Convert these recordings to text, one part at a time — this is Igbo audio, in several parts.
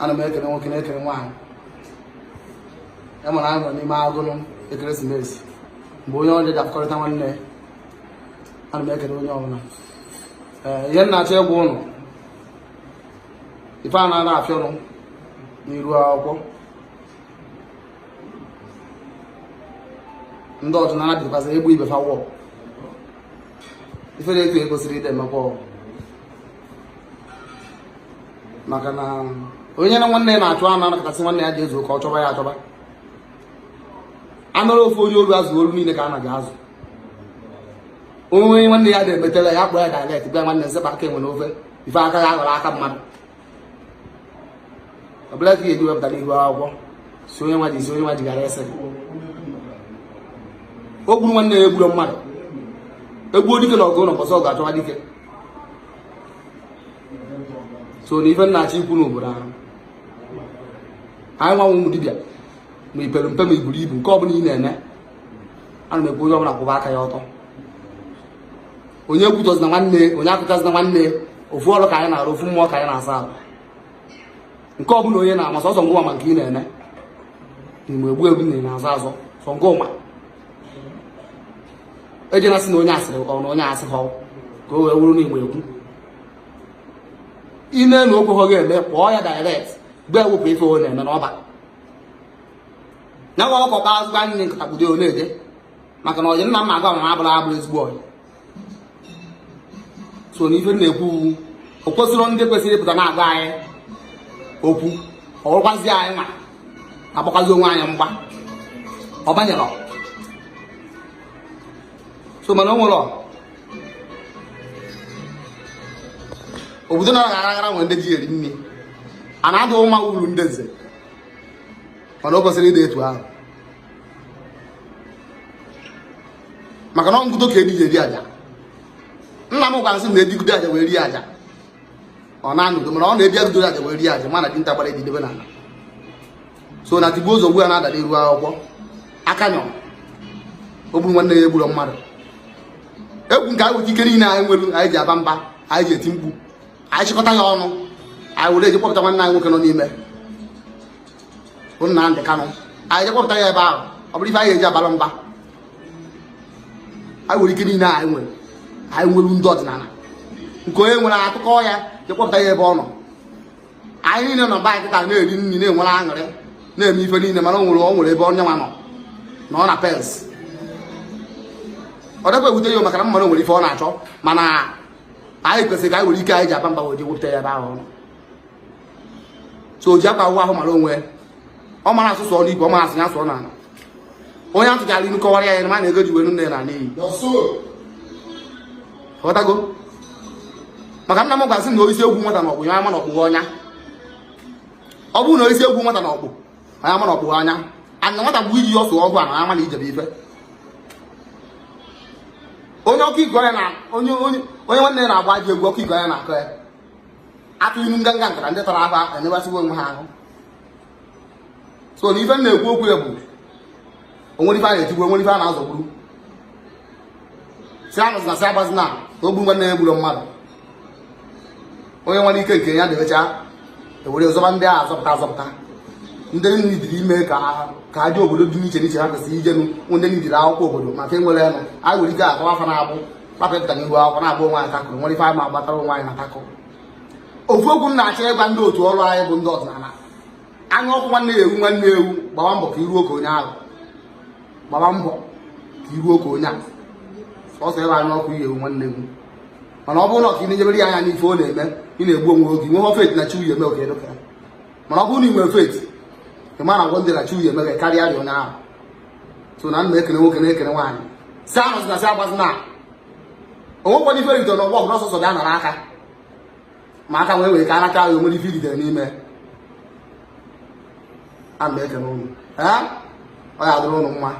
ana m ekele nwoke na-ekele nwaanyị enwere anyị nọ n'ime ụgụrụ ekeresimesi mgbe onye ọrịa ji akọrịta nwanne ya ana m ekele onye ọbụla ee ihe m na-achọ ịgwa ụnụ ife a na-ana afịa ọnụ n'iru akwụkwọ ndị ọdịnala bidokwazi egbu ibe fa wụ ife na-eto egosiri ide mmekwa ọgwụ maka na onye na nwanne ya na-achụ anụ anarọ asị nwanne ya je zoo ka ọ chọba ya achọba anụrụ ofu onye olu azụ olu niile ka a na-aga azụ onye nwanne ya na-emetela ya kpọọ ya direct bịa nwanne m sepụ aka enwe n'ofe ife aka ya aghọrọ aka mmadụ ọ bụrọ ka ga-eji wepụta n'ihu akwụkwọ si onye nwa ji si onye nwa ji gara ese o gburu nwanne ya egburo mmadụ egbuo dike na ọgụ ụnọ ụbọsị ọgụ achọba dike so na ife m na-achọ ikwu n'obodo ahụ anyị nwa wụ ụmụ dibịa ma i pere mpe ma i buru ibu nke ọbụla ị na-eme ana m ekwu onye ọbụla kwụba aka ya ọtọ onye ekwutọzina nwanne onye akọchazina nwanne ofu ọrụ ka anyị na-arụ ofu mmụọ ka anyị na-asa ahụ nke ọbụla onye na-eme sọsọ ngị ma nke ị na-eme na ị na-egbu egbu na ị na-azọ azọ sọ ngị ma ejena sị na onye a sịrị ọ na onye asị ha ka o wee wụrụ na ị na-ekwu ime na okwu ha ga-eme kpọọ ya direct gwa ya wepụ ife ọ na-eme n'ọba na nwa ọkụkọ kpa azụgba nne nkata ekpudo ọ na-eje maka na ọyị na-ama agwa ma abụla abụrọ ezigbo ọyị so na ife m na-ekwu wụ o kwesịrị ndị kwesịrị ịpụta na-agwa anyị okwu ọ bụrụkwazi anyị nwa agbakwazi onwe anyị mgba ọ banyere so mana o nwere obodo nọ aghara aghara nwere ndị ji eri nri ana adị mma uru ndị nze mana o kwesirọ ịdị etu ahụ maka na ọngụdo ka edi ji eri aja nna m gwara sị na edi gide aja wee rie aja ọ na-anụdo mana ọ na edi agụdo aja wee rie aja mana dinta gbara edi debe n'ana so na tigbuo zọgbuo na-ada n'iru akwụkwọ aka nyọ o gburu nwanne ya egburo mmadụ ọ bụ nke anyị weta ike niile anyị nwere anyị ji aba mba anyị ji eti mkpu anyị chịkọta ya ọnụ anyị were je kpọpụta nwanne anyị nwoke nọ n'ime bụ Nnamdị Kanụ anyị je kpọpụta ya ebe ahụ ọ bụrụ ife anyị eji abara mba anyị were ike niile anyị nwere anyị were ndị ọdịnala nke onye nwere a tụkọọ ya je kpọpụta ya ebe ọ nọ anyị niile nọ be anyị kịta na-eri nri na-enwere aṅụrị na-eme ife niile mana o nwere ebe onye nwa nọ nọ na pains ọ dịkwa ewute ya maka na mmadụ nwere ife ọ na-achọ mana anyị kwesịrị ka anyị were ike anyị ji agba mbọ wee jee wepụta ya ebe ahụ ọ nọ so o ji akwa ahụ mara onwe ọ mara asụ sụọ n'ikwe ọ marọ asụ ya sụọ n'ana onye a tụchara inu kọwara ya ya ma na ego e ji wee nụọ nne ya naa n'iyi ị ghọtago maka nna m gwa sị na e yisie egwu nwata na-akpụ ọnya ama na ọ kpụ ọnya ọ bụrụ na e yisie egwu nwata na-akpụ ọnya ama na ọ kpụ ọnya a na nwata bụ iji ọsụ ọgwụ a na ama na ijebe ife onye ọkọ iku ya na onye onye onye nwanne ya na-agba ajọ egwu ọkọ iku ya na-akọ ya a tụọ inu nkanka nkata ndị tara ahụ enebasịwa onwe ha ahụ so na ife m na-ekwu okwu ya bụ o nwere ife a na-etigbu o nwere ife a na-azọgburu sị anụzina sị agbazina o gburu nwanne ya egburọ mmadụ onye nwere ike nke ya debecha e were zọba ndị a azọpụta azọpụta ndị needịrị ime ka ha jee obodo dị n'iche n'iche ha kwesịrị ijenu ndị needịrị akwụkwọ obodo maka enwere nụ anyị nwere ike akọwa afa na-abụ kpapụta n'ihu akwụkwọ na-abụ onwe anyị takụrụ nwere ife anyị ma agbatara onwe anyị na takụrụ ofu okwu m na-achọ ịgwa ndị otu ọrụ anyị bụ ndị ọdịnala anya ọkụ nwanne ya ewu nwanne ewu gbaba mbọ ka i ruo ka onye ahụ gbaba mbọ ka i ruo ka onye ahụ sọsọ ebe anya ọkụ ihe ewu nwanne ewu mana ọ bụrụ na ọ ka ị na-enebara ya anya n'ife ọ na-eme ị na-egbu onwe oge nwee faith na chi uye oge dịka mana ọ bụrụ na ị nwere faith ị ma na gwo ndị na chi uye meghe karịa dị onye ahụ so na m na-ekene nwoke na-ekene nwaanyị sị asịna sị agbazina o nwekwana ife e ritere n'ọgbọ ọbụla ọsọsọ bịa nara aka ma aka wee wee ka a nara aka ahụ o nwere ife ritere n'ime ana m ekene ụnụ ọ ya-adịrị ụnụ mma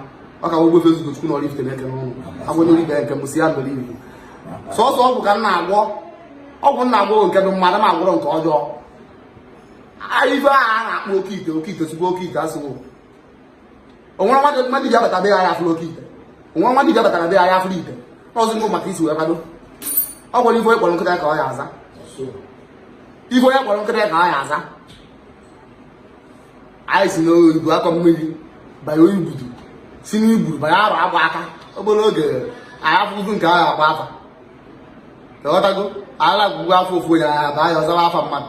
ọ kwa Ogbuefi Ezeugochukwu na Oraifite na-ekene ụnụ agwanye ibe nke m si ya mere iwu sọsọ ọgwụ ka m na-agwọ ọgwụ m na-agwọ nke dụ mma ada m agwọrọ nke ọjọọ ife a na-akpọ oke ite oke ite sigbo oke ite asịwo o nwere nwa dibia bata be ya ya afụrụ oke ite o nwere nwa dibia batara be ya ya afụrụ ite ọzọ ngụ ma ka i si wee kwado ọ gwara ife onye kpọrọ nkịta ka ọ ya-aza ife onye kpọrọ nkịta ka ọ ya-aza anyị si n'udu akọ mmiri banye ibudu si n'ibudu banye arọ agba aka obere oge anyị afụfụ nke ahụ agba afa ị ghọtago ala gwụgwọ afa ofu onye ya baa ya ọ zawa afa mmadụ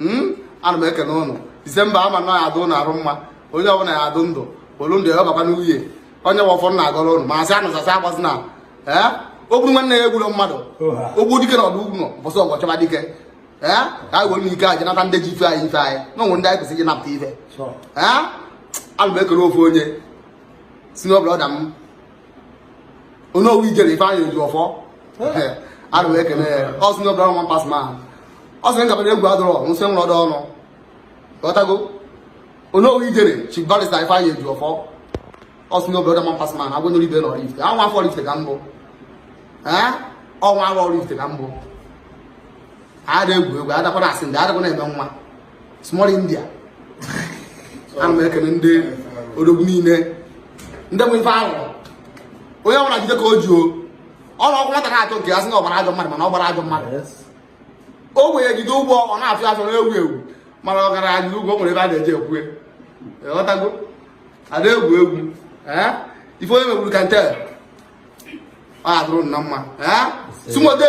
hmm? ana m ekene ụnụ December a ma na ya-adụ ụnụ arụ mma onye ọbụla ya-adụ ndụ olu ndụ ya ọbakwa n'uhie ọ nya bụ ọfọ m na-agọrọ ụnụ ma asị ụnụ sị asị agbazina ee o gburu nwanne ya egburọ mmadụ ogbu dike na ọdụ ọgụ ụnọ ụbọsị ọgụ ọ chọba dike ee ka anyị were ike jee nata ndị ji ife anyị ife anyị na o nwe ndị anyị kwesịrị ịnapụta ife ee ana m ekene ofu onye si n'obodo ọda m onowu ijere ifeanyị ejiọfọ ana m ekele ya ọ sị na obodo ọma pas ma ọ sị na egwu adọrọ nsị nwụrụ ọdọ ọnụ ghọtago onowu ijere chiif barista ifeanyị ejiọfọ ọ sị na obodo ọma pas ma agwa nyere ibe na ọraifite a nwa afọ ọraifite ka m bụ ọnwa arụ ọraifite ka m bụ ada egwu egwu adakwa na asị ndị adakwa na-eme nwa small india ana m ekele ndị odogwu niile ndị nwe ife ahụ onye ọbụla jide ka o ji o ọrụ ọkụ nwata na-achọ nke ya sị na ọ gbara ajọ mmadụ mana ọ gbara ajọ mmadụ o wee jide ụgwọ ọ na-afịa afịa na-ewu ewu mana ọ gara ajide ụgwọ nwere ebe a na-eji ekwu ghọtago ada egwu egwu ife onye megburu ka nte ọ adụrụ na mma sumode